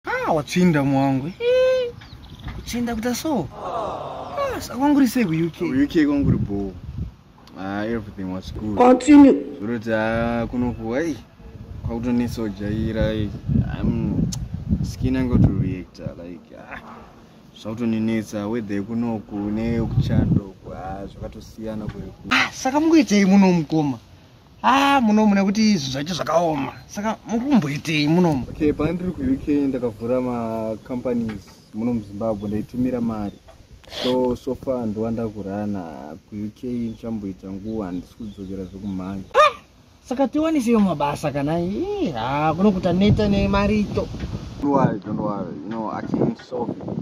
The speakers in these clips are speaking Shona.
Ah, watsvinda mwangu. Eh, kutsvinda kuita so. Ah, sakwangu sei ku UK? Ku UK kwangu ri bho. Ah, everything was good. Continue. Zvoroti ah kunoku ai kwakutonetsa kujaira. I'm skin angu to react like ah zvautoninetsa weather yekunoku neyekuchando ah, zvakatosiyana kweku. Ah, saka mungoitei muno mukoma? haa munomu nekuti izvi zvacho zvakaoma saka mukumboitei munomu okay pandiri kuuk ndakavhura macompanies muno muzimbabwe ndaitumira mari so so far ndova ndakurana kuuk ndichamboita nguva handisi kudzokera zvekumhanya ah! saka tiwaniseyo mabasa kana eh, haa kunokuta neta nemarito don't worry don't worry you know i can solve it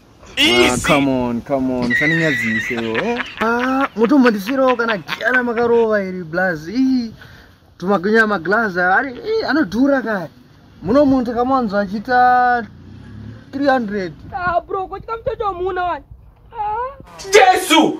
Ah, come on, come on. Sani nyadzi ise yo. Eh? Ah, mutu mba ndisiro kana kiana makarova iri blaz. Ii, tumagunya maglaz. Ari, ii, ano dura kari. Muno muntu kama wanzo achita 300. Ah, bro, kwa chika mtoto wa muuna wani. Ah. Jesu!